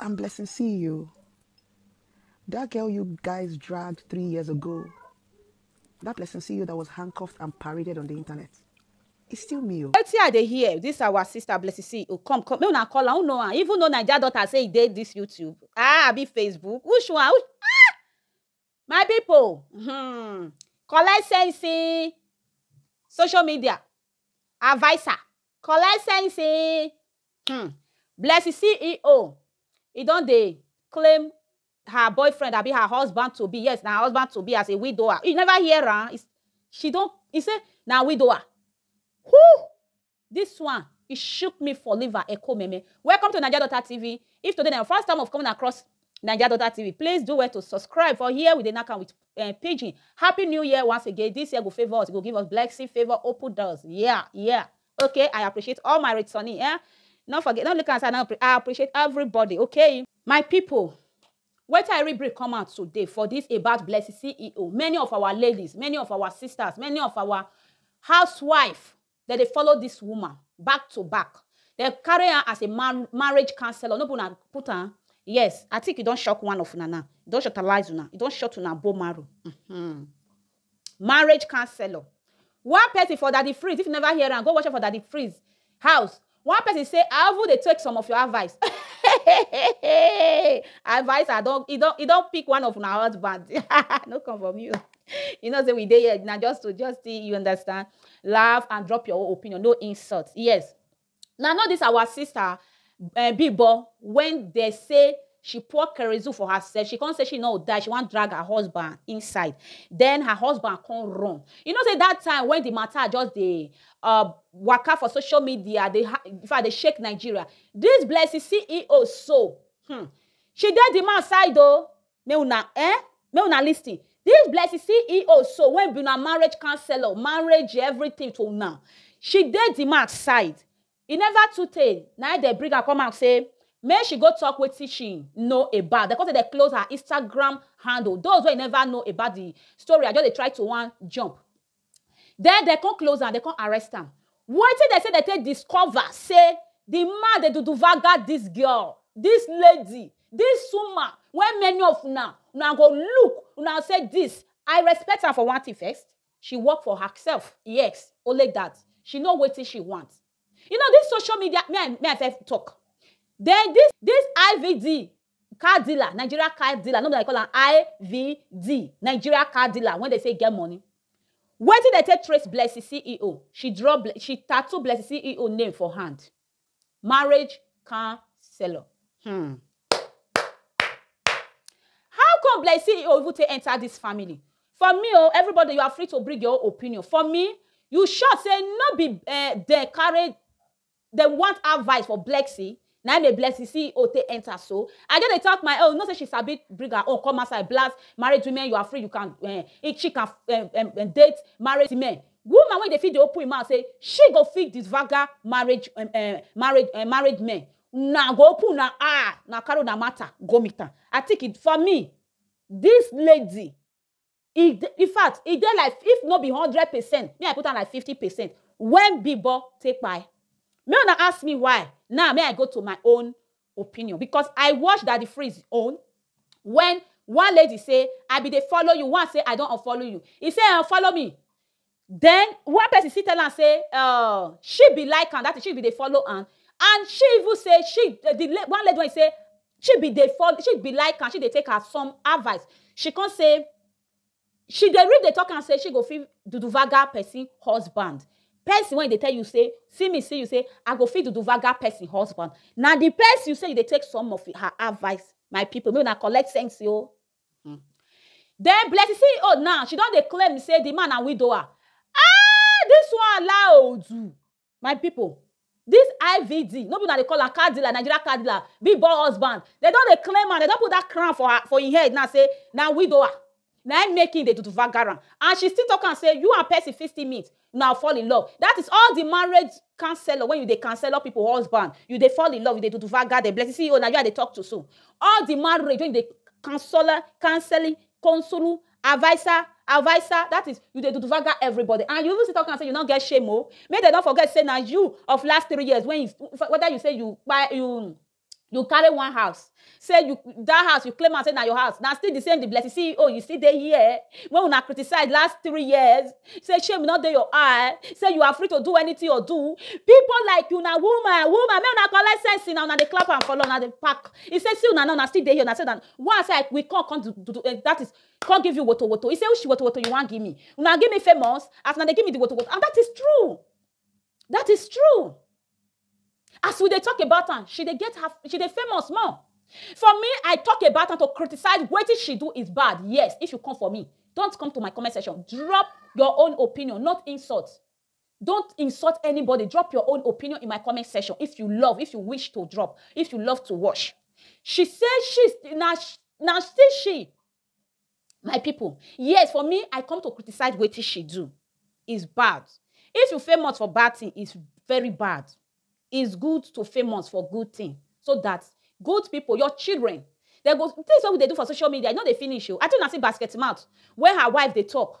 I'm blessing see you. That girl you guys dragged three years ago, that blessing see you that was handcuffed and paraded on the internet. It's still me. Oh. Wetin I dey hear, this our sister Blessing see you. Come, come, make una call her, who know her? Even though Naija daughter say e dey this YouTube. Ah, abi Facebook. Which one? Which... Ah! My pipu um collect sense ee social media adviser collect sense ee um Blessing CEO e don dey claim her boyfriend abi her husband to be yes na her husband to be as a widower you never hear am she don e say na widower who This one e shook me for liver eko meme. Welcome to Naija Daughter TV, if today na your first time of coming across Naija Daughter TV please do well to subscribe for here we dey knack am with um, pidgin. Happy new year once again, this year go favour us, e go give us blessing, favour, open doors, yeah, yeah. Okay, I appreciate all my returning, eh? No forget, no look am say I no appre- I appreciate everybody, okay? My people, wetin I read brief come out today for this about Blessing CEO, many of our ladies, many of our sisters, many of our housewife Dem dey follow this woman back to back dem carry am as a marriage counsellor no be una put am yes I think e don shock one of una now e don shortalize una e don short una bone marrow uhmm marriage counsellor one person for daddy freeze if you never hear am go watch am for daddy freeze house One person say I even dey take some of your advice. advice I don e don e don pick one of una husband. no come for me. you know say we dey here na just to just see you understand laugh and drop your own opinion no insult yes na know this our sister eh bimbo when dey say she pour kerosene for herself she come say she no die she wan drag her husband inside then her husband come run you know say that time when the matter just dey uh, waka for social media dey if i dey shake nigeria this blessing ceo so hmm, she dey the man side o make una eh make una lis ten this blessing ceo so wey be una marriage counselor marriage everything to una she dey the man side e never too tey na dem bring her come out say make she go talk wetin she know about dem come say dem close her instagram handle those wey never know about the story i just dey try to wan jump Den dem come close am, dem come arrest am. Wetin dem say dem take discover say di man dey duduvaga dis girl, dis lady, dis woman wey many of una una go look, una go say dis, I respect am for one tin first, she work for herself, yes, only dat, she know wetin she want. You know dis social media, me I me I first tok, den dis dis IVD Car dealer, Nigeria car dealer, no be like you call am IVD, Nigeria car dealer wey dem say e get money. Wetin dem take trace Blessing CEO? She draw, she tattoo Blessing CEO name for hand. Marriage counselor. Hmm. How come Blessing CEO even take enter this family? For me o, everybody you are free to bring your own opinion. For me, you sure say no be uh, dem carry Dem want add vice for Blexy, na im make Blexy CEO take enter so. I just dey talk my own, you know say she sabi bring her own come outside blast married women you are free you can um eat she can um um date married men. Woman wey dey fit dey open im mouth say she go fit disvaga marriage um um married um married men, una go open una eye, una carry una matter go meet am. I think it for me this lady e dey in fact e dey like if no be hundred percent me I put am like fifty percent when bigboy take kpai make una ask me why now make I go to my own opinion because I watch daddy freeze own when one lady say I be dey follow you one say I don unfollow you e say unfollow me Then one person still tell am say uh, she be like am, that is she be dey follow am. And she even say she eh, the one lady wey say she be dey follow, she be like am, she dey take her some advice. She come say she dey read dey talk am say she go fit duduvaga person husband. Person wey dey tell you say see me see you say I go fit duduvaga person husband. Na the person you say you dey take some of her advice my people make una collect sense o. Den Blessing ceo now she don dey claim say di man na widower aah dis one laoodu my pipo dis IVD no be una dey call am car dealer Nigeria car dealer big boy husband dem don dey claim am dem don put dat crown for her for im head now say na widower na im make im dey do vagara and she still talk am say you and Percy fit still meet una go fall in love that is all the marriage counselor when you dey counselor people husband you dey fall in love you dey duduvaga dem blessing see you na you i dey talk to so all the marriage when you dey counselor counseling consulu adviser adviser that is you dey duduvaga everybody and you even still talk am say you no get shame o make dem no forget say na you of last three years when you whether you say you kpai you you carry one house say you that house you claim am say na your house na still the same the blessing see oh you still dey here when una criticize last three years say shame no dey your eye say you are free to do anything or do people like you na woman woman make una collect sense na una dey clap am for una dey pack he say see una now una still dey here una say na one side we come come do, do, do, uh, that is come give you woto woto he say which woto woto you wan give me una give me famous as una dey give me the woto woto and that is true that is true As we dey talk about am, she dey get her, she dey famous more. For me, I talk about am to criticize wetin she do is bad. Yes, if you come for me, don't come to my comment section. Drop your own opinion, not insult. Don't insult anybody. Drop your own opinion in my comment section if you love, if you wish to drop, if you love to watch. She say she's na na still she My people, yes for me I come to criticize wetin she do is bad. If you famous for bad thing is very bad. Is good to famous for good thing so that good people, your children dem go, things wey we dey do for social media e no dey finish oh. I tell una sey basket mouth when her wife dey talk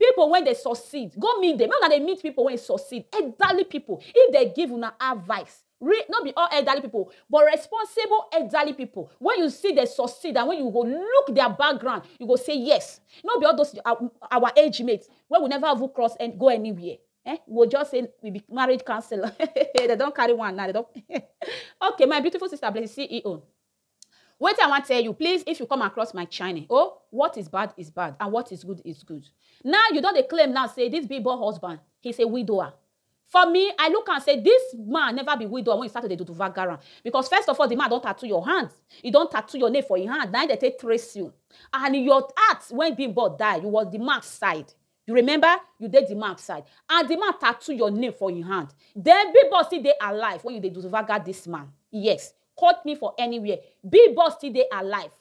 People when they succeed, go meet them. Make una dey meet people when succeed, elderly people. If they give una advice, re, not be all elderly people, but responsible elderly people. When you see they succeed and when you go look their background, you go say yes. Not be all those uh, our age mates when we never even cross and go anywhere. Eh? We'll just say we be marriage counselor. they don't carry one now. They don't. okay, my beautiful sister, bless CEO. Wetin I wan tell you, please if you come across my channel oh, what is bad is bad and what is good is good. Now you don dey claim now say this big boy husband he's a widower. For me, I look am say this man never be widower when he start to dey do vagaran because first of all, the man don tattoo your hand, he don tattoo your name for him hand, na him dey take trace you and your heart when big boy die, you was the man side. You remember? You dey the man side. And the man tattoo your name for him hand. Then big boss still dey alive when you dey duzvaga this man. Yes. Quote me for anywhere. Big boss still dey alive.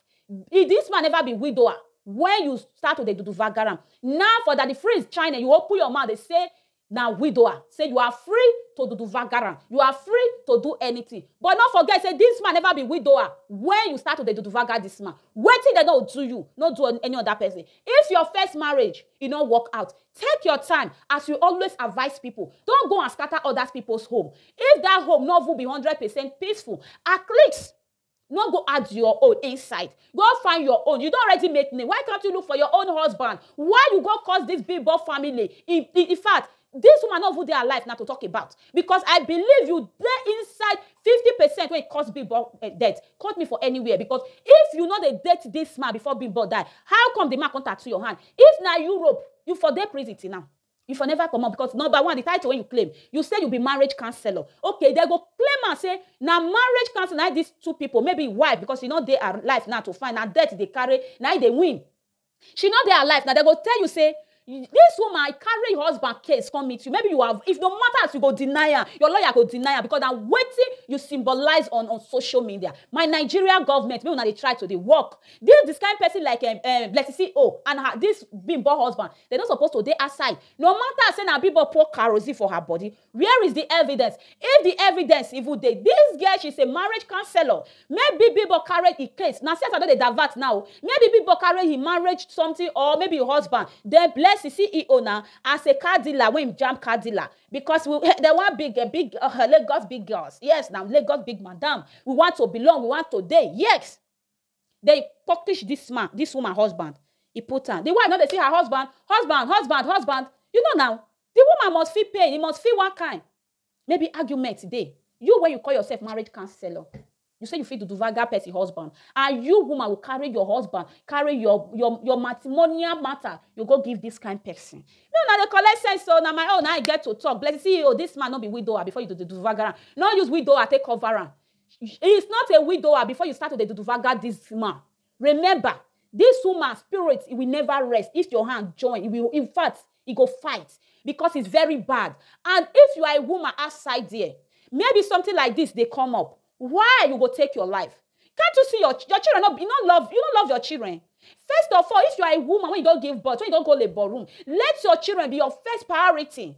If this man never be widower, when you start to dey duduvagara am, now for Daddy Freeze China, you open your mouth dey say na widower. Say you are free to duduvagara am. You are free to do anything. But no forget say this man never be widower when you start to dey duduvaga this man. Wetin dem no do you, no do any other person. If your first marriage e no work out, take your time as we always advice people, don't go and scatter others people's home. If that home no even be hundred percent peaceful, at least no go add your own inside go find your own you don already make name why can't you look for your own husband why you go cause this big boy family in, in, in fact This woman no even dey alive na to talk about because I believe you dey inside fifty percent wey cause Bimbo eh, death. Quote me for anywhere because if you no dey date this man before Bimbo die, how come the man come tattoo your hand? If na Europe, you for dey prison till now. You for never comot because number one, the title wey you claim, you say you be marriage counsellor. Okay, they go claim am say na marriage counsellor na im these two people, maybe wife because e no dey alive now to find, na death dey carry, na im dey win. She no dey alive na dem go tell you say this woman I carry your husband case come meet you maybe you have if no matter as you go deny am your lawyer go deny am because na wetin you symbolize on on social media my Nigeria government make una dey try to dey work this this kind person like um um Blessing CEO and her this Bimbo husband dem no suppose to dey outside no matter say na Bimbo pour kerosene for her body Where is the evidence? If the evidence even dey, this girl she's a marriage counselor. Maybe people carry the case. Now see as I don dey divert now. Maybe people carry him marriage something or maybe him husband. Then bless the CEO now as a car dealer when him jam car dealer because we, they want big eh, big uh, Lagos big girls. Yes, now Lagos big madam. We want to belong. We want to dey. Yes. Dey purplish dis man dis woman husband e put am di wife no dey see her husband husband husband husband you know na di woman must feel pain e must feel one kain maybe argument dey you wey you call yourself marriage counsellor you say you fit duduvaga person husband and you woman go carry your husband carry your your your matrimonial matter you go give dis kain person me una dey collect sense oo na my own na I get to talk blessing see oo dis man no be widower before you duduvaga am no use widower take cover am He is not a widower before you start to dey duduvaga this man. Remember, this woman spirit e will never rest if your hand join. E will, in fact, e go fight because it's very bad. And if you are a woman outside there, maybe something like this dey come up. Why you go take your life? Can't you see your ch- your children? No, be- you no love you no love your children. First of all, if you are a woman when you don give birth, when you don go labour room, let your children be your first priority.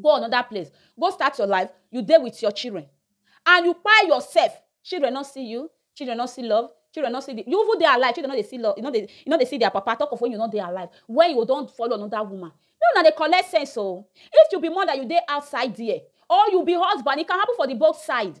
go anoda place go start your life you dey with your children and you kpai yourself children no see you children no see love children no see the you even dey alive children no dey see love you no dey you no dey see their papa talk of when you no dey alive when you go don follow another woman make una dey collect sense o if you be mother you dey outside there or you be husband e can happen for the both side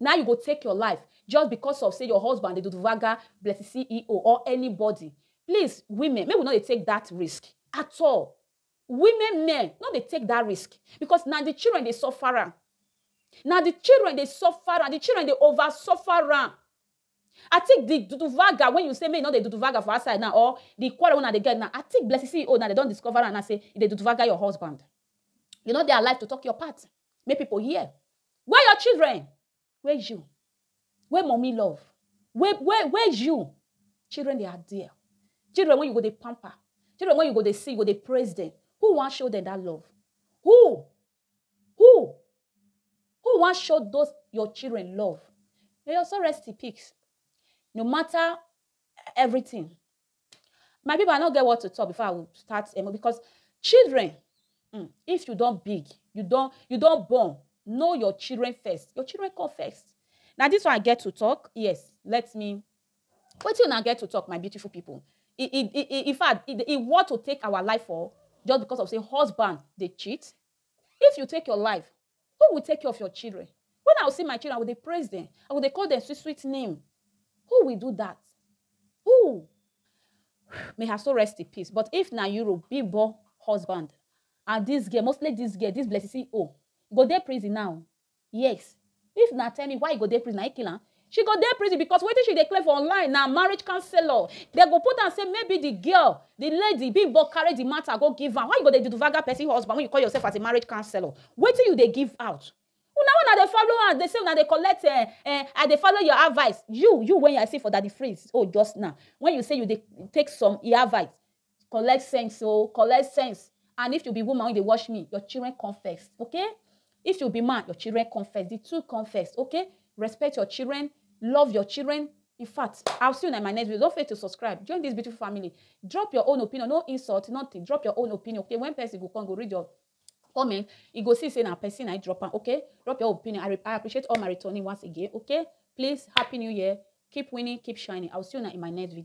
Now you go take your life just because of say your husband dey duduvagga blessy CEO or anybody. Please women make we no dey take that risk at all. Women men no dey take that risk because na the children dey suffer am. Na the children dey suffer am. The children dey over suffer am. I think the duduvaga wey you say make you no dey duduvaga for outside now or the quarrel wey una dey get now, I think Blessing CEO now dem don discover am now say you dey duduvaga your husband. You no dey alive to talk your part make people hear. Where your children? Where you? Where mummy love? Where where where you? Children dey are there. Children wey you go dey pamper. Children wey you go dey see, you go dey praise dem. Who wan show dem that love? Who? Who who wan show those your children love? May your soul rest in peace. No matter everything. My people, I no get what to talk before I will start emo because children, mm, if you don big, you don you don born, know your children first. Your children come first. Na this one I get to talk. Yes, let me Wetin una get to talk my beautiful people e e e infact e worth to take our life for just because of say husband dey cheat? If you take your life who will take care of your children? When I will see my children I go dey praise them, I go dey call them sweet sweet name, who will do that? Who? May her soul rest in peace but if na you will be born husband and this girl mostly this girl this blessing see oh go dey prison now Yes. If na tell me why e go dey prison, na e kill am? She go dey prison because wetin she dey claim for online na marriage counsellor. Dem go put am say maybe the girl, the lady, Bimbo carry the matter go give am. Why you go dey duduvaga person husband when you call yourself as a marriage counsellor? Wetin you dey give out? Una wey una dey follow am dey say una dey collect eh eh I dey follow your advice. You you wey I see for Daddy Freeze own just now, when you say you dey take some e advice, Collect sense o, collect sense and if you be woman wey dey watch me, your children come first okay, if you be man, your children come first, di two come first okay, respect your children, love your children, infact I will see una in my next video, don't forget to subscribe, join dis beautiful family, drop your own opinion, no insult, nothing, drop your own opinion okay, when person go come, go read your comment, e go see sey na person na im drop am okay, drop your own opinion, I I appreciate all my returning once again okay, please happy new year, keep winning, keep shining, I will see una in my next video.